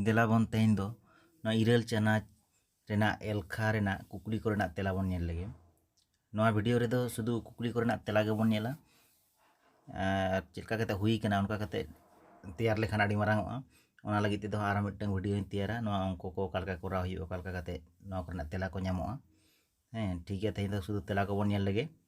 ᱫᱮᱞᱟ ᱵᱚᱱ ᱛᱮᱦᱮᱧ ᱫᱚ ᱱᱚᱣᱟ ᱤᱨᱟᱹᱞ ᱪᱟᱱᱟᱪ ᱨᱮᱱᱟᱜ ᱮᱞᱠᱷᱟ ᱨᱮᱱᱟᱜ ᱠᱩᱠᱞᱤ ᱠᱚᱨᱮᱱᱟᱜ ᱛᱮᱞᱟ ᱵᱚᱱ ᱧᱮᱞ ᱞᱮᱜᱮ ᱱᱚᱣᱟ ᱵᱷᱤᱰᱤᱭᱳ ᱨᱮᱫᱚ ᱥᱩᱫᱷᱩ ᱠᱩᱠᱞᱤ ᱠᱚᱨᱮᱱᱟᱜ ᱛᱮᱞᱟ ᱜᱮᱵᱚᱱ ᱧᱮᱞᱟ ᱟᱨ ᱪᱮᱫ ᱞᱮᱠᱟ ᱠᱟᱛᱮ ᱦᱩᱭ ᱠᱟᱱᱟ ᱚᱱᱠᱟ ᱠᱟᱛᱮ ᱛᱮᱭᱟᱨ ᱞᱮᱠᱷᱟᱱ ᱟᱹᱰᱤ ᱢᱟᱨᱟᱝᱚᱜᱼᱟ ᱚᱱᱟ ᱞᱟᱹᱜᱤᱫ ᱛᱮᱫᱚ ᱟᱨᱦᱚᱸ ᱢᱤᱫᱴᱟᱝ ᱵᱷᱤᱰᱤᱭᱳᱧ ᱛᱮᱭᱟᱨᱟ ᱱᱚᱣᱟ ᱚᱝᱠᱚ ᱠᱚ ᱚᱠᱟ ᱞᱮᱠᱟ ᱠᱚᱨᱟᱣ ᱦᱩᱭᱩᱜᱼᱟ ᱚᱠᱟ ᱞᱮᱠᱟ ᱠᱟᱛᱮ ᱱᱚᱣᱟ ᱠᱚᱨᱮᱱᱟᱜ ᱛᱮᱞᱟ ᱠᱚ ᱧᱟᱢᱚᱜᱼᱟ ᱦᱮᱸ ᱴᱷᱤᱠ ᱜᱮᱭᱟ ᱛᱮᱦᱮᱧ ᱫᱚ ᱥᱩᱫᱷᱩ ᱛᱮᱞᱟ ᱠᱚᱵᱚᱱ ᱧᱮᱞ ᱞᱮᱜᱮ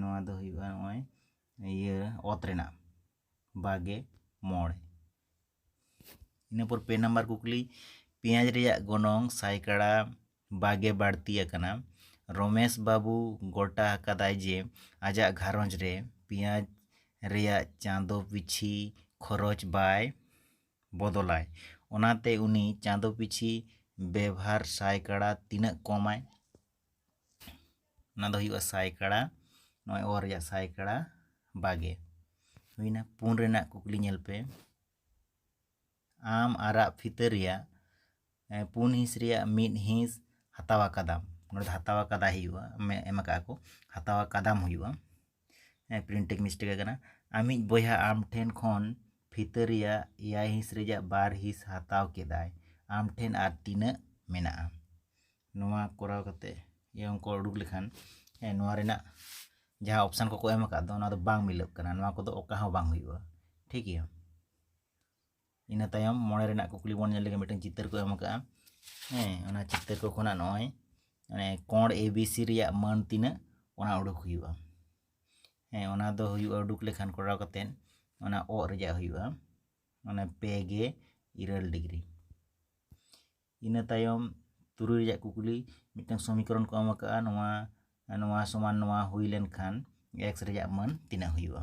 ᱱᱚᱣᱟ ᱫᱚ ᱦᱩᱭᱩᱜᱼᱟ ᱱᱚᱜᱼᱚᱭ ᱤᱭᱟᱹ ᱚᱛ ᱨᱮᱱᱟᱜ ᱵᱟᱜᱮ ᱢᱚᱬ ᱤᱱᱟᱹ ᱯᱚᱨ ᱯᱮ ᱱᱟᱢᱵᱟᱨ ᱠᱩᱠᱞᱤ ᱯᱮᱸᱭᱟᱡᱽ ᱨᱮᱭᱟᱜ ᱜᱚᱱᱚᱝ ᱥᱟᱭᱠᱟᱲᱟ ᱵᱟᱜᱮ ᱵᱟᱹᱲᱛᱤ ᱟᱠᱟᱱᱟ ᱨᱚᱢᱮᱥ ᱵᱟᱹᱵᱩ ᱜᱚᱴᱟ ᱟᱠᱟᱫᱟᱭ ᱡᱮ ᱟᱡᱟᱜ ᱜᱷᱟᱨᱚᱸᱡᱽ ᱨᱮ ᱯᱮᱸᱭᱟᱡᱽ ᱨᱮᱭᱟᱜ ᱪᱟᱸᱫᱚ ᱯᱤᱪᱷᱤ ᱠᱷᱚᱨᱚᱪ ᱵᱟᱭ ᱵᱚᱫᱚᱞᱟᱭ ᱚᱱᱟᱛᱮ ᱩᱱᱤ ᱪᱟᱸᱫᱚ ᱯᱤᱪᱷᱤ ᱵᱮᱵᱷᱟᱨ ᱥᱟᱭᱠᱟᱲᱟ ᱛᱤᱱᱟᱹᱜ ᱠᱚᱢᱟᱭ ᱚᱱᱟ ᱫᱚ ᱦᱩᱭᱩᱜᱼᱟ ᱥᱟᱭ ᱠᱟᱲᱟ ᱱᱚᱜᱼᱚᱭ ᱚ ᱨᱮᱭᱟᱜ ᱥᱟᱭ ᱠᱟᱲᱟ ᱵᱟᱜᱮ ᱦᱩᱭᱱᱟ ᱯᱩᱱ ᱨᱮᱱᱟᱜ ᱠᱩᱠᱞᱤ ᱧᱮᱞ ᱯᱮ ᱟᱢ ᱟᱨᱟᱜ ᱯᱷᱤᱛᱟᱹ ᱨᱮᱭᱟᱜ ᱯᱩᱱ ᱦᱤᱸᱥ ᱨᱮᱭᱟᱜ ᱢᱤᱫ ᱦᱤᱸᱥ ᱦᱟᱛᱟᱣ ᱟᱠᱟᱫᱟᱢ ᱱᱚᱰᱮ ᱫᱚ ᱦᱟᱛᱟᱣ ᱟᱠᱟᱫᱟᱭ ᱦᱩᱭᱩᱜᱼᱟ ᱮᱢ ᱟᱠᱟᱫᱼᱟ ᱠᱚ ᱦᱟᱛᱟᱣ ᱟᱠᱟᱫᱟᱢ ᱦᱩᱭᱩᱜᱼᱟ ᱦᱮᱸ ᱯᱨᱤᱱᱴᱤᱝ ᱢᱤᱥᱴᱮᱠ ᱟᱠᱟᱱᱟ ᱟᱢᱤᱡ ᱵᱚᱭᱦᱟ ᱟᱢ ᱴᱷᱮᱱ ᱠᱷᱚᱱ ᱯᱷᱤᱛᱟᱹ ᱨᱮᱭᱟᱜ ᱮᱭᱟᱭ ᱦᱤᱸᱥ ᱨᱮᱭᱟᱜ ᱵᱟᱨ ᱦᱤᱸᱥ ᱦᱟᱛᱟᱣ ᱠᱮᱫᱟᱭ ᱟᱢ ᱴᱷᱮᱱ ᱟᱨ ᱛᱤᱱᱟᱹᱜ ᱢᱮᱱᱟᱜᱼᱟ ᱱᱚᱣᱟ ᱠᱚᱨᱟᱣ ᱠᱟᱛᱮ ᱤᱭᱟᱹ ᱚᱝᱠᱚ ᱩᱰᱩᱠ ᱞᱮᱠᱷᱟᱱ ᱦᱮᱸ ᱱᱚᱣᱟ ᱨᱮᱱᱟᱜ ᱡᱟᱦᱟᱸ ᱚᱯᱥᱟᱱ ᱠᱚᱠᱚ ᱮᱢ ᱟᱠᱟᱫ ᱫᱚ ᱚᱱᱟ ᱫᱚ ᱵᱟᱝ ᱢᱤᱞᱟᱹᱜ ᱠᱟᱱᱟ ᱱᱚᱣᱟ ᱠᱚᱫᱚ ᱚᱠᱟ ᱦᱚᱸ ᱵᱟᱝ ᱦᱩᱭᱩᱜᱼᱟ ᱴᱷᱤᱠ ᱜᱮᱭᱟ ᱤᱱᱟᱹ ᱛᱟᱭᱚᱢ ᱢᱚᱬᱮ ᱨᱮᱱᱟᱜ ᱠᱩᱠᱞᱤ ᱵᱚᱱ ᱧᱮᱞ ᱞᱮᱜᱮ ᱢᱤᱫᱴᱟᱝ ᱪᱤᱛᱟᱹᱨ ᱠᱚ ᱮᱢ ᱟᱠᱟᱫᱼᱟ ᱦᱮᱸ ᱚᱱᱟ ᱪᱤᱛᱟᱹᱨ ᱠᱚ ᱠᱷᱚᱱᱟᱜ ᱱᱚᱜᱼᱚᱭ ᱢᱟᱱᱮ ᱠᱚᱬ ᱮ ᱵᱤ ᱥᱤ ᱨᱮᱭᱟᱜ ᱢᱟᱹᱱ ᱛᱤᱱᱟᱹᱜ ᱚᱱᱟ ᱩᱰᱩᱠ ᱦᱩᱭᱩᱜᱼᱟ ᱦᱮᱸ ᱚᱱᱟ ᱫᱚ ᱦᱩᱭᱩᱜᱼᱟ ᱩᱰᱩᱠ ᱞᱮᱠᱷᱟᱱ ᱠᱚᱨᱟᱣ ᱠᱟᱛᱮᱫ ᱚᱱᱟ ᱚᱜ ᱨᱮᱭᱟᱜ ᱦᱩᱭᱩᱜᱼᱟ ᱚᱱᱟ ᱯᱮ ᱜᱮ ᱤᱨᱟᱹᱞ ᱰᱤᱜᱽᱨᱤ ᱤᱱᱟᱹ ᱛᱟᱭᱚᱢ ᱛᱩᱨᱩᱭ ᱨᱮᱭᱟᱜ ᱠᱩᱠᱞᱤ ᱢᱤᱫᱴᱟᱝ ᱥᱚᱢᱤᱠᱚᱨᱚᱱ ᱠᱚ ᱮᱢ ᱟᱠᱟᱫᱼᱟ ᱱᱚᱣᱟ ᱱᱚᱣᱟ ᱥᱚᱢᱟᱱ ᱱᱚᱣᱟ ᱦᱩᱭ ᱞᱮᱱᱠᱷᱟᱱ ᱮᱠᱥ ᱨᱮᱭᱟᱜ ᱢᱟᱹᱱ ᱛᱤᱱᱟᱹᱜ ᱦᱩᱭᱩᱜᱼᱟ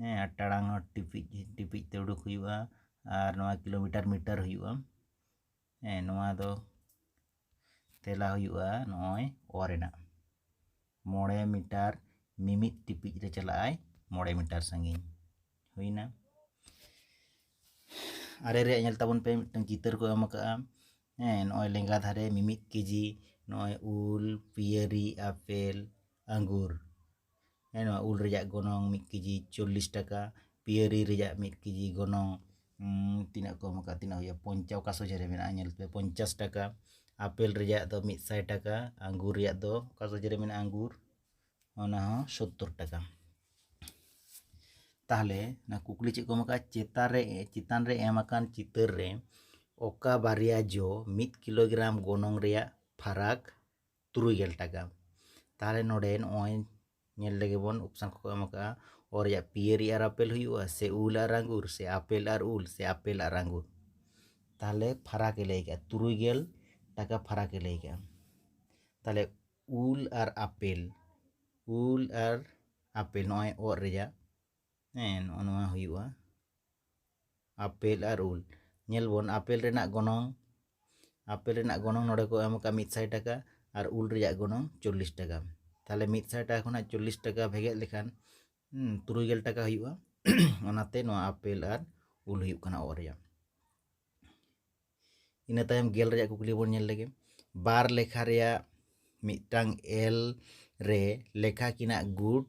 ᱦᱮᱸ ᱟᱨ ᱴᱟᱲᱟᱝ ᱦᱚᱸ ᱴᱤᱯᱤᱡ ᱴᱤᱯᱤᱡ ᱛᱮ ᱩᱰᱩᱠ ᱦᱩᱭᱩᱜᱼᱟ ᱟᱨ ᱱᱚᱣᱟ ᱠᱤᱞᱳᱢᱤᱴᱟᱨ ᱢᱤᱴᱟᱨ ᱦᱩᱭᱩᱜᱼᱟ ᱦᱮᱸ ᱱᱚᱣᱟ ᱫᱚ ᱛᱮᱞᱟ ᱦᱩᱭᱩᱜᱼᱟ ᱱᱚᱜᱼᱚᱭ ᱚ ᱨᱮᱱᱟᱜ ᱢᱚᱬᱮ ᱢᱤᱴᱟᱨ ᱢᱤᱢᱤᱫ ᱴᱤᱯᱤᱡ ᱨᱮ ᱪᱟᱞᱟᱜᱼᱟᱭ ᱢᱚᱬᱮ ᱢᱤᱴᱟᱨ ᱥᱟᱺᱜᱤᱧ ᱦᱩᱭᱱᱟ ᱟᱨᱮ ᱨᱮᱭᱟᱜ ᱧᱮᱞ ᱛᱟᱵᱚᱱ ᱯᱮ ᱢᱤᱫᱴᱟᱝ ᱪᱤᱛᱟᱹᱨ ᱠᱚ ᱮᱢ ᱟᱠᱟᱜᱼᱟ ᱦᱮᱸ ᱱᱚᱜᱼᱚᱭ ᱞᱮᱸᱜᱟ ᱫᱷᱟᱨᱮ ᱢᱤᱢᱤᱫ ᱠᱮᱡᱤ ᱱᱚᱜᱼᱚᱭ ᱩᱞ ᱯᱤᱭᱟᱹᱨᱤ ᱟᱯᱮᱞ ᱟᱺᱜᱩᱨ ᱦᱮᱸ ᱱᱚᱣᱟ ᱩᱞ ᱨᱮᱭᱟᱜ ᱜᱚᱱᱚᱝ ᱢᱤᱫ ᱠᱮᱡᱤ ᱪᱚᱞᱞᱤᱥ ᱴᱟᱠᱟ ᱯᱤᱭᱟᱹᱨᱤ ᱨᱮᱭᱟᱜ ᱢᱤᱫ ᱠᱮᱡᱤ ᱜᱚᱱᱚᱝ ᱛᱤᱱᱟᱹᱜ ᱠᱚ ᱮᱢ ᱟᱠᱟᱫᱼᱟ ᱛᱤᱱᱟᱹᱜ ᱦᱩᱭᱩᱜᱼᱟ ᱯᱚᱧᱪᱟᱥ ᱚᱠᱟ ᱥᱚᱡᱷᱮ ᱨᱮ ᱢᱮᱱᱟᱜᱼᱟ ᱧᱮᱞ ᱯᱮ ᱯᱚᱧᱪᱟᱥ ᱴᱟᱠᱟ ᱟᱯᱮᱞ ᱨᱮᱭᱟᱜ ᱫᱚ ᱢᱤᱫ ᱥᱟᱭ ᱴᱟᱠᱟ ᱟᱝᱜᱩᱨ ᱨᱮᱭᱟᱜ ᱫᱚ ᱚᱠᱟ ᱥᱚᱡᱷᱮ ᱨᱮ ᱢᱮᱱᱟᱜᱼᱟ ᱟᱝᱜᱩᱨ ᱚᱱᱟ ᱦᱚᱸ ᱥᱳᱛᱛᱳᱨ ᱴᱟᱠᱟ ᱛᱟᱦᱚᱞᱮ ᱚᱱᱟ ᱠᱩᱠᱞᱤ ᱪᱮᱫ ᱠᱚ ᱮᱢ ᱟᱠᱟᱫᱼᱟ ᱪᱮᱛᱟᱱ ᱨᱮ ᱪᱮᱛᱟᱱ ᱨᱮ ᱮᱢ ᱟᱠᱟᱱ ᱪᱤᱛᱟᱹᱨ ᱨᱮ ᱚᱠᱟ ᱵᱟᱨᱭᱟ ᱡᱚ ᱢᱤᱫ ᱠᱤᱞᱳᱜᱨᱟᱢ ᱜᱚᱱᱚᱝ ᱨᱮᱭᱟᱜ ᱯᱷᱟᱨᱟᱠ ᱛᱩᱨᱩᱭ ᱜᱮᱞ ᱴᱟᱠᱟ ᱛᱟᱦᱚᱞᱮ ᱱᱚᱰᱮ ᱱᱚᱜᱼᱚᱭ ᱧᱮᱞ ᱞᱮᱜᱮ ᱵᱚᱱ ᱚᱯᱥᱟᱱ ᱠᱚᱠᱚ ᱮᱢ ᱟᱠᱟᱫᱼᱟ ᱚ ᱨᱮᱭᱟᱜ ᱯᱤᱭᱟᱹᱨᱤ ᱟᱨ ᱟᱯᱮᱞ ᱦᱩᱭᱩᱜᱼᱟ ᱥᱮ ᱩᱞ ᱟᱨ ᱟᱸᱜᱩᱨ ᱥᱮ ᱟᱯᱮᱞ ᱟᱨ ᱩᱞ ᱥᱮ ᱟᱯᱮᱞ ᱟᱨ ᱟᱸᱜᱩᱨ ᱛᱟᱦᱚᱞᱮ ᱯᱷᱟᱨᱟᱠ ᱮ ᱞᱟᱹᱭ ᱠᱟᱜᱼᱟ ᱛᱩᱨᱩᱭ ᱜᱮᱞ ᱴᱟᱠᱟ ᱯᱷᱟᱨᱟᱠ ᱮ ᱞᱟᱹᱭ ᱠᱟᱜᱼᱟ ᱛᱟᱦᱚᱞᱮ ᱩᱞ ᱟᱨ ᱟᱯᱮᱞ ᱩᱞ ᱟᱨ ᱟᱯᱮᱞ ᱱᱚᱜᱼᱚᱭ ᱚ ᱨᱮᱭᱟᱜ ᱦᱮᱸ ᱱᱚᱜᱼᱚ ᱱᱚᱣᱟ ᱦᱩᱭᱩᱜᱼᱟ ᱟᱯᱮᱞ ᱟᱨ ᱩᱞ ᱧᱮᱞ ᱵᱚᱱ ᱟᱯᱮᱞ ᱨᱮᱱᱟᱜ ᱜᱚᱱᱚᱝ ᱟᱯᱮᱞ ᱨᱮᱱᱟᱜ ᱜᱚᱱᱚᱝ ᱱᱚᱰᱮ ᱠᱚ ᱮᱢ ᱟᱠᱟᱫᱼᱟ ᱢᱤᱫ ᱥᱟᱭ ᱴᱟᱠᱟ ᱟᱨ ᱩᱞ ᱨᱮᱭᱟᱜ ᱜᱚᱱᱚᱝ ᱪᱚᱞᱞᱤᱥ ᱴᱟᱠᱟ ᱛᱟᱦᱚᱞᱮ ᱢᱤᱫ ᱥᱟᱭ ᱴᱟᱠᱟ ᱠᱷᱚᱱᱟᱜ ᱪᱚᱞᱞᱤᱥ ᱴᱟᱠᱟ ᱵᱷᱮᱜᱮᱫ ᱞᱮᱠᱷᱟᱱ ᱛᱩᱨᱩᱭ ᱜᱮᱞ ᱴᱟᱠᱟ ᱦᱩᱭᱩᱜᱼᱟ ᱚᱱᱟᱛᱮ ᱱᱚᱣᱟ ᱟᱯᱮᱞ ᱟᱨ ᱩᱞ ᱦᱩᱭᱩᱜ ᱠᱟᱱᱟ ᱚ ᱨᱮᱭᱟᱜ ᱤᱱᱟᱹ ᱛᱟᱭᱚᱢ ᱜᱮᱞ ᱨᱮᱭᱟᱜ ᱠᱩᱠᱞᱤ ᱵᱚᱱ ᱧᱮᱞ ᱞᱮᱜᱮ ᱵᱟᱨ ᱞᱮᱠᱷᱟ ᱨᱮᱭᱟᱜ ᱢᱤᱫᱴᱟᱝ ᱮᱞ ᱨᱮ ᱞᱮᱠᱷᱟ ᱠᱤᱱᱟᱜ ᱜᱩᱴ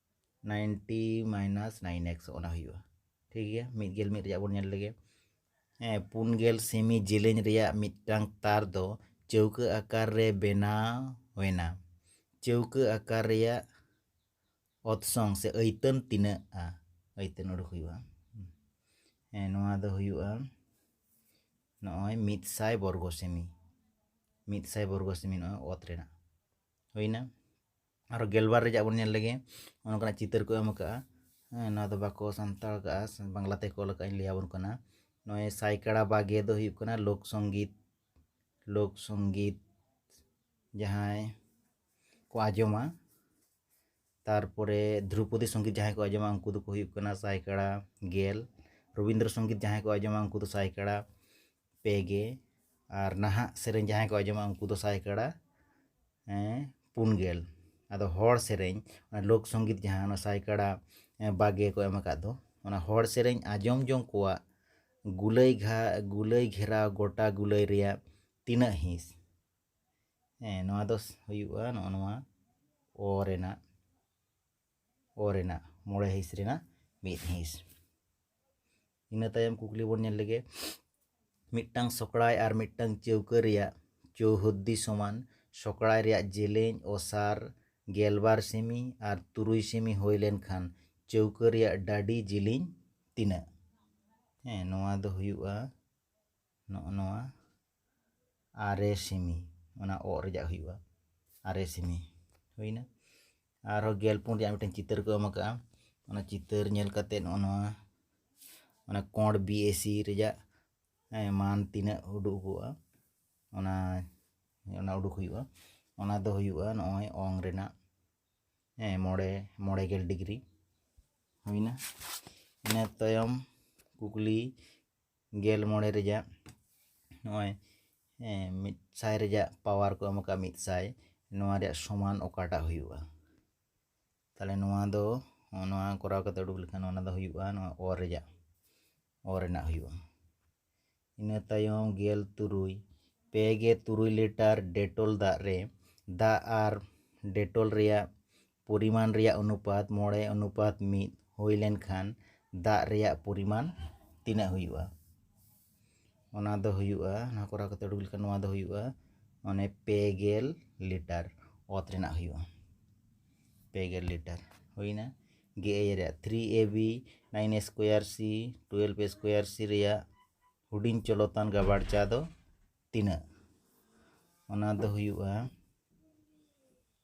ᱱᱟᱭᱤᱱᱴᱤ ᱢᱟᱭᱱᱟᱥ ᱱᱟᱭᱤᱱ ᱮᱠᱥ ᱚᱱᱟ ᱦᱩᱭᱩᱜᱼᱟ ᱴᱷᱤᱠ ᱜᱮᱭᱟ ᱢᱤᱫ ᱜᱮᱞ ᱢᱤᱫ ᱨᱮᱭᱟᱜ ᱵᱚᱱ ᱧᱮᱞ ᱞᱮᱜᱮ ᱦᱮᱸ ᱯᱩᱱ ᱜᱮᱞ ᱥᱮᱢᱤ ᱡᱮᱞᱮᱧ ᱨᱮᱭᱟᱜ ᱢᱤᱫᱴᱟᱝ ᱛᱟᱨ ᱫᱚ ᱪᱟᱹᱣᱠᱟᱹ ᱟᱠᱟᱨ ᱨᱮ ᱵᱮᱱᱟᱣ ᱮᱱᱟ ᱪᱟᱹᱣᱠᱟᱹ ᱟᱠᱟᱨ ᱨᱮᱭᱟᱜ ᱚᱛᱥᱚᱝ ᱥᱮ ᱟᱹᱭᱛᱟᱹᱱ ᱛᱤᱱᱟᱹᱜᱼᱟ ᱟᱹᱭᱛᱟᱹᱱ ᱩᱰᱩᱠ ᱦᱩᱭᱩᱜᱼᱟ ᱦᱮᱸ ᱱᱚᱣᱟ ᱫᱚ ᱦᱩᱭᱩᱜᱼᱟ ᱱᱚᱜᱼᱚᱭ ᱢᱤᱫ ᱥᱟᱭ ᱵᱚᱨᱜᱚ ᱥᱮᱢᱤ ᱢᱤᱫ ᱥᱟᱭ ᱵᱚᱨᱜᱚ ᱥᱮᱢᱤ ᱱᱚᱜᱼᱚᱭ ᱚᱛ ᱨᱮᱱᱟᱜ ᱦᱩᱭᱱᱟ ᱟᱨᱚ ᱜᱮᱞᱵᱟᱨ ᱨᱮᱭᱟᱜ ᱵᱚᱱ ᱧᱮᱞ ᱞᱮᱜᱮ ᱚᱱᱠᱟᱱᱟᱜ ᱪᱤᱛᱟᱹᱨ ᱠᱚ ᱮᱢ ᱠᱟᱜᱼᱟ ᱦᱮᱸ ᱱᱚᱣᱟ ᱫᱚ ᱵᱟᱠᱚ ᱥᱟᱱᱛᱟᱲ ᱠᱟᱜᱼᱟ ᱵᱟᱝᱞᱟ ᱛᱮᱠᱚ ᱚᱞ ᱠᱟᱜᱼᱟ ᱞᱟᱹᱭ ᱟᱵᱚᱱ ᱠᱟᱱᱟ ᱱᱚᱜᱼᱚᱭ ᱥᱟᱭ ᱠᱟᱲᱟ ᱵᱟᱜᱮ ᱫᱚ ᱦᱩᱭᱩᱜ ᱠᱟᱱᱟ ᱞᱳᱠ ᱥᱚᱝᱜᱤᱛ ᱞᱳᱠ ᱥᱚᱝᱜᱤᱛ ᱡᱟᱦᱟᱸᱭ ᱠᱚ ᱟᱸᱡᱚᱢᱟ ᱛᱟᱨᱯᱚᱨᱮ ᱫᱨᱳᱯᱚᱫᱤ ᱥᱚᱝᱜᱤᱛ ᱡᱟᱦᱟᱸᱭ ᱠᱚ ᱟᱸᱡᱚᱢᱟ ᱩᱱᱠᱩ ᱫᱚᱠᱚ ᱦᱩᱭᱩᱜ ᱠᱟᱱᱟ ᱥᱟᱭ ᱠᱟᱲᱟ ᱜᱮᱞ ᱨᱚᱵᱤᱱᱫᱨᱚ ᱥᱚᱝᱜᱤᱛ ᱡᱟᱦᱟᱸᱭ ᱠᱚ ᱟᱸᱡᱚᱢᱟ ᱩᱱᱠᱩ ᱫᱚ ᱥᱟᱭ ᱠᱟᱲᱟ ᱯᱮ ᱜᱮ ᱟᱨ ᱱᱟᱦᱟᱜ ᱥᱮᱨᱮᱧ ᱡᱟᱦᱟᱸᱭ ᱠᱚ ᱟᱸᱡᱚᱢᱟ ᱩᱱᱠᱩ ᱫᱚ ᱥᱟᱭ ᱠᱟᱬᱟ ᱯᱩᱱ ᱜᱮᱞ ᱟᱫᱚ ᱦᱚᱲ ᱥᱮᱨᱮᱧ ᱞᱳᱠ ᱥᱚᱝᱜᱤᱛ ᱡᱟᱦᱟᱸ ᱚᱱᱟ ᱥᱟᱭ ᱠᱟᱬᱟ ᱵᱟᱜᱮ ᱠᱚ ᱮᱢ ᱟᱠᱟᱫ ᱫᱚ ᱚᱱᱟ ᱦᱚᱲ ᱥᱮᱨᱮᱧ ᱟᱸᱡᱚᱢ ᱡᱚᱝ ᱠᱚᱣᱟᱜ ᱜᱩᱞᱟᱹᱭ ᱜᱷᱟ ᱜᱩᱞᱟᱹᱭ ᱜᱷᱮᱨᱟᱣ ᱜᱚᱴᱟ ᱜᱩᱞᱟᱹᱭ ᱨᱮᱭᱟᱜ ᱛᱤᱱᱟᱹᱜ ᱦᱤᱸᱥ ᱦᱮᱸ ᱱᱚᱣᱟ ᱫᱚ ᱦᱩᱭᱩᱜᱼᱟ ᱱᱚᱜᱼᱚ ᱱᱚᱣᱟ ᱚ ᱨᱮᱱᱟᱜ ᱚ ᱨᱮᱱᱟᱜ ᱢᱚᱬᱮ ᱦᱤᱸᱥ ᱨᱮᱱᱟᱜ ᱢᱤᱫ ᱦᱤᱸᱥ ᱤᱱᱟᱹ ᱛᱟᱭᱚᱢ ᱠᱩᱠᱞᱤ ᱵᱚᱱ ᱧᱮᱞ ᱞᱮᱜᱮ ᱢᱤᱫᱴᱟᱝ ᱥᱚᱠᱲᱟᱭ ᱟᱨ ᱢᱤᱫᱴᱟᱝ ᱪᱟᱹᱣᱠᱟᱹ ᱨᱮᱭᱟᱜ ᱪᱳᱣᱦᱚᱫᱽᱫᱤ ᱥᱚᱢᱟᱱ ᱥᱚᱠᱲᱟᱭ ᱨᱮᱭᱟᱜ ᱡᱮᱞᱮᱧ ᱚᱥᱟᱨ ᱜᱮᱞ ᱵᱟᱨ ᱥᱮᱢᱤ ᱟᱨ ᱛᱩᱨᱩᱭ ᱥᱮᱢᱤ ᱦᱩᱭ ᱞᱮᱱᱠᱷᱟᱱ ᱪᱟᱹᱣᱠᱟᱹ ᱨᱮᱭᱟᱜ ᱰᱟᱹᱰᱤ ᱡᱮᱞᱮᱧ ᱛᱤᱱᱟᱹᱜ ᱦᱮᱸ ᱱᱚᱣᱟ ᱫᱚ ᱦᱩᱭᱩᱜᱼᱟ ᱱᱚᱜᱼᱚ ᱱᱚᱣᱟ ᱟᱨᱮ ᱥᱮᱢᱤ ᱚᱱᱟ ᱚᱜ ᱨᱮᱭᱟᱜ ᱦᱩᱭᱩᱜᱼᱟ ᱟᱨᱮ ᱥᱮᱢᱤ ᱦᱩᱭᱱᱟ ᱟᱨᱦᱚᱸ ᱜᱮᱞ ᱯᱩᱱ ᱨᱮᱭᱟᱜ ᱢᱤᱫᱴᱮᱱ ᱪᱤᱛᱟᱹᱨ ᱠᱚ ᱮᱢ ᱟᱠᱟᱫᱼᱟ ᱚᱱᱟ ᱪᱤᱛᱟᱹᱨ ᱧᱮᱞ ᱠᱟᱛᱮ ᱱᱚᱜᱼᱚ ᱱᱚᱣᱟ ᱚᱱᱟ ᱠᱚᱬ ᱵᱤ ᱮ ᱥᱤ ᱨᱮᱭᱟᱜ ᱢᱟᱱ ᱛᱤᱱᱟᱹᱜ ᱩᱰᱩᱠᱚᱜᱼᱟ ᱚᱱᱟ ᱚᱱᱟ ᱩᱰᱩᱠ ᱦᱩᱭᱩᱜᱼᱟ ᱚᱱᱟ ᱫᱚ ᱦᱩᱭᱩᱜᱼᱟ ᱱᱚᱜᱼᱚᱭ ᱚᱝ ᱨᱮᱱᱟᱜ ᱦᱮᱸ ᱢᱚᱬᱮ ᱢᱚᱬᱮ ᱜᱮᱞ ᱰᱤᱜᱽᱨᱤ ᱦᱩᱭᱱᱟ ᱤᱱᱟᱹ ᱛᱟᱭᱚᱢ ᱠᱩᱠᱞᱤ ᱜᱮᱞ ᱢᱚᱬᱮ ᱨᱮᱭᱟᱜ ᱱᱚᱜᱼᱚᱭ ᱢᱤᱫ ᱥᱟᱭ ᱨᱮᱭᱟᱜ ᱯᱟᱣᱟᱨ ᱠᱚ ᱮᱢ ᱟᱠᱟᱫ ᱢᱤᱫ ᱥᱟᱭ ᱱᱚᱣᱟ ᱨᱮᱭᱟᱜ ᱥᱚᱢᱟᱱ ᱚᱠᱟᱴᱟᱜ ᱦᱩᱭᱩᱜᱼᱟ ᱛᱟᱦᱚᱞᱮ ᱱᱚᱣᱟ ᱫᱚ ᱱᱚᱣᱟ ᱠᱚᱨᱟᱣ ᱠᱟᱛᱮ ᱩᱰᱩᱠ ᱞᱮᱠᱷᱟᱱ ᱚᱱᱟ ᱫᱚ ᱦᱩᱭᱩᱜᱼᱟ ᱱᱚᱣᱟ ᱚ ᱨᱮᱭᱟᱜ ᱚ ᱨᱮᱱᱟᱜ ᱦᱩᱭᱩᱜᱼᱟ ᱤᱱᱟᱹ ᱛᱟᱭᱚᱢ ᱜᱮᱞ ᱛᱩᱨᱩᱭ ᱯᱮ ᱜᱮ ᱛᱩᱨᱩᱭ ᱞᱤᱴᱟᱨ ᱰᱮᱴᱚᱞ ᱫᱟᱜ ᱨᱮ ᱫᱟᱜ ᱟᱨ ᱰᱮᱴᱚᱞ ᱨᱮᱭᱟᱜ ᱯᱚᱨᱤᱢᱟᱱ ᱨᱮᱭᱟᱜ ᱚᱱᱩᱯᱟᱛ ᱢᱚᱬᱮ ᱚᱱᱩᱯᱟᱛ ᱢᱤᱫ ᱦᱩᱭ ᱞᱮᱱᱠᱷᱟᱱ ᱫᱟᱜ ᱨᱮᱭᱟᱜ ᱯᱚᱨᱤᱢᱟᱱ ᱛᱤᱱᱟᱹᱜ ᱦᱩᱭᱩᱜᱼᱟ ᱚᱱᱟ ᱫᱚ ᱦᱩᱭᱩᱜᱼᱟ ᱚᱱᱟ ᱠᱚᱨᱟᱣ ᱠᱟᱛᱮ ᱩᱰᱩᱠ ᱞᱮᱠᱷᱟᱱ ᱱᱚᱣᱟ ᱫᱚ ᱦᱩᱭᱩᱜᱼᱟ ᱢᱟᱱᱮ ᱯᱮ ᱜᱮᱞ ᱞᱤᱴᱟᱨ ᱚᱛ ᱨᱮᱱᱟᱜ ᱦᱩᱭᱩᱜᱼᱟ ᱯᱮ ᱜᱮᱞ ᱞᱤᱴᱟᱨ ᱦᱩᱭᱱᱟ ᱜᱮ ᱮᱭ ᱨᱮᱭᱟᱜ three A B nine square C twelve square C ᱨᱮᱭᱟᱜ ᱦᱩᱰᱤᱧ ᱪᱚᱞᱚᱛᱟᱱ ᱜᱟᱵᱟᱬ ᱪᱟ ᱫᱚ ᱛᱤᱱᱟᱹᱜ ᱚᱱᱟ ᱫᱚ ᱦᱩᱭᱩᱜᱼᱟ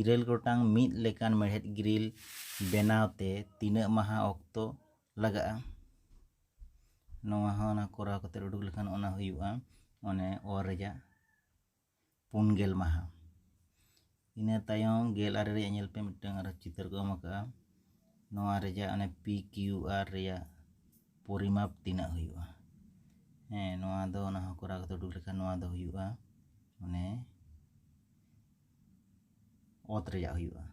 ᱤᱨᱟᱹᱞ ᱜᱚᱴᱟᱝ ᱢᱤᱫ ᱞᱮᱠᱟᱱ ᱢᱮᱬᱦᱮᱫ ᱜᱨᱤᱞ ᱵᱮᱱᱟᱣ ᱛᱮ ᱛᱤᱱᱟᱹᱜ ᱢᱟᱦᱟ ᱚᱠᱛᱚ ᱞᱟᱜᱟᱜᱼᱟ ᱱᱚᱣᱟ ᱦᱚᱸ ᱚᱱᱟ ᱠᱚᱨᱟᱣ ᱠᱟᱛᱮ ᱩᱰᱩᱠ ᱞᱮᱠᱷᱟᱱ ᱚᱱᱟ ᱦᱩᱭᱩᱜᱼᱟ ᱚᱱᱮ ᱚ ᱨᱮᱭᱟᱜ ᱯᱩᱱ ᱜᱮᱞ ᱢᱟᱦᱟ ᱤᱱᱟᱹ ᱛᱟᱭᱚᱢ ᱜᱮᱞ ᱟᱨᱮ ᱨᱮᱭᱟᱜ ᱧᱮᱞ ᱯᱮ ᱢᱤᱫᱴᱟᱝ ᱟᱨᱚ ᱪᱤᱛᱟᱹᱨ ᱠᱚ ᱮᱢ ᱟᱠᱟᱫᱼᱟ ᱱᱚᱣᱟ ᱨᱮᱭᱟᱜ ᱚᱱᱮ ᱯᱤ ᱠᱤᱭᱩ ᱟᱨ ᱨᱮᱭᱟᱜ ᱯᱚᱨᱤᱢᱟᱯ ᱛᱤᱱᱟᱹᱜ ᱦᱩᱭᱩᱜᱼᱟ ᱦᱮᱸ ᱱᱚᱣᱟ ᱫᱚ ᱚᱱᱟ ᱦᱚᱸ ᱠᱚᱨᱟᱣ ᱠᱟᱛᱮ ᱩᱰᱩᱠ ᱞᱮᱠᱷᱟᱱ ᱱᱚᱣᱟ ᱫᱚ ᱦᱩᱭᱩᱜᱼᱟ ᱚᱱᱮ ᱚᱛ ᱨᱮᱭᱟᱜ ᱦᱩᱭᱩᱜᱼᱟ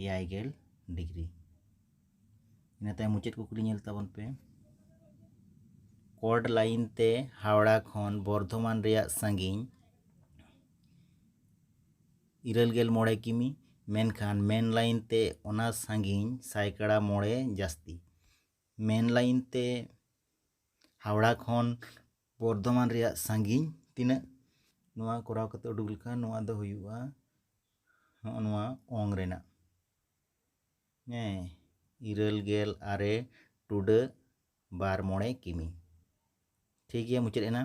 ᱮᱭᱟᱭ ᱜᱮᱞ ᱰᱤᱜᱽᱨᱤ ᱤᱱᱟᱹ ᱛᱟᱭᱚᱢ ᱢᱩᱪᱟᱹᱫ ᱠᱩᱠᱞᱤ ᱧᱮᱞ ᱛᱟᱵᱚᱱ ᱯᱮ ᱠᱚᱰ ᱞᱟᱭᱤᱱ ᱛᱮ ᱦᱟᱣᱲᱟ ᱠᱷᱚᱱ ᱵᱚᱨᱫᱷᱚᱢᱟᱱ ᱨᱮᱭᱟᱜ ᱥᱟᱺᱜᱤᱧ ᱤᱨᱟᱹᱞ ᱜᱮᱞ ᱢᱚᱬᱮ ᱠᱤᱢᱤ ᱢᱮᱱᱠᱷᱟᱱ ᱢᱮᱱ ᱞᱟᱭᱤᱱ ᱛᱮ ᱚᱱᱟ ᱥᱟᱺᱜᱤᱧ ᱥᱟᱭᱠᱟᱲᱟ ᱢᱚᱬᱮ ᱡᱟᱹᱥᱛᱤ ᱢᱮᱱ ᱞᱟᱭᱤᱱ ᱛᱮ ᱦᱟᱣᱲᱟ ᱠᱷᱚᱱ ᱵᱚᱨᱫᱷᱚᱢᱟᱱ ᱨᱮᱭᱟᱜ ᱥᱟᱺᱜᱤᱧ ᱛᱤᱱᱟᱹᱜ ᱱᱚᱣᱟ ᱠᱚᱨᱟᱣ ᱠᱟᱛᱮ ᱩᱰᱩᱠ ᱞᱮᱠᱷᱟᱱ ᱱᱚᱣᱟ ᱫᱚ ᱦᱩᱭᱩᱜᱼᱟ ᱱᱚᱜᱼᱚ ᱱᱚᱣᱟ ᱚᱝ ᱨᱮᱱᱟᱜ ᱦᱮᱸ ᱤᱨᱟᱹᱞ ᱜᱮᱞ ᱟᱨᱮ ᱴᱩᱰᱟᱹᱜ ᱵᱟᱨ ᱢᱚᱬᱮ ᱠᱤᱢᱤ ᱴᱷᱤᱠ ᱜᱮᱭᱟ ᱢᱩᱪᱟᱹᱫ ᱮᱱᱟ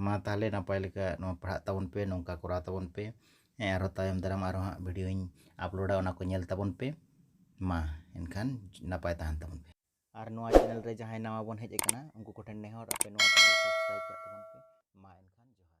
ᱢᱟ ᱛᱟᱦᱚᱞᱮ ᱱᱟᱯᱟᱭ ᱞᱮᱠᱟ ᱱᱚᱣᱟ ᱯᱟᱲᱦᱟᱜ ᱛᱟᱵᱚᱱ ᱯᱮ ᱱᱚᱝᱠᱟ ᱠᱚᱨᱟᱣ ᱛᱟᱵᱚᱱ ᱯᱮ ᱦᱮᱸ ᱟᱨᱦᱚᱸ ᱛᱟᱭᱚᱢ ᱫᱟᱨᱟᱢ ᱟᱨᱦᱚᱸ ᱦᱟᱸᱜ ᱵᱷᱤᱰᱭᱳᱧ ᱟᱯᱞᱳᱰᱟ ᱚᱱᱟ ᱠᱚ ᱧᱮᱞ ᱛᱟᱵᱚᱱ ᱯᱮ ᱢᱟ ᱮᱱᱠᱷᱟᱱ ᱱᱟᱯᱟᱭ ᱛᱟᱦᱮᱱ ᱛᱟᱵᱚᱱ ᱯᱮ ᱟᱨ ᱱᱚᱣᱟ ᱪᱮᱱᱮᱞ ᱨᱮ ᱡᱟᱦᱟᱸᱭ ᱱᱟᱣᱟ ᱵᱚᱱ ᱦᱮᱡ ᱟᱠᱟᱱᱟ ᱩᱱᱠᱩ ᱠᱚᱴᱷᱮᱱ ᱱᱮᱦᱚᱨ ᱟᱯᱮ ᱱᱚᱣᱟ ᱪᱮᱱᱮᱞ ᱥᱟᱵᱥᱠᱨᱟᱭᱤᱵᱽ ᱠᱟᱜ ᱛᱟᱵᱚᱱ ᱯᱮ ᱢᱟ ᱮᱱᱠᱷᱟᱱ ᱡᱚᱦᱟᱨ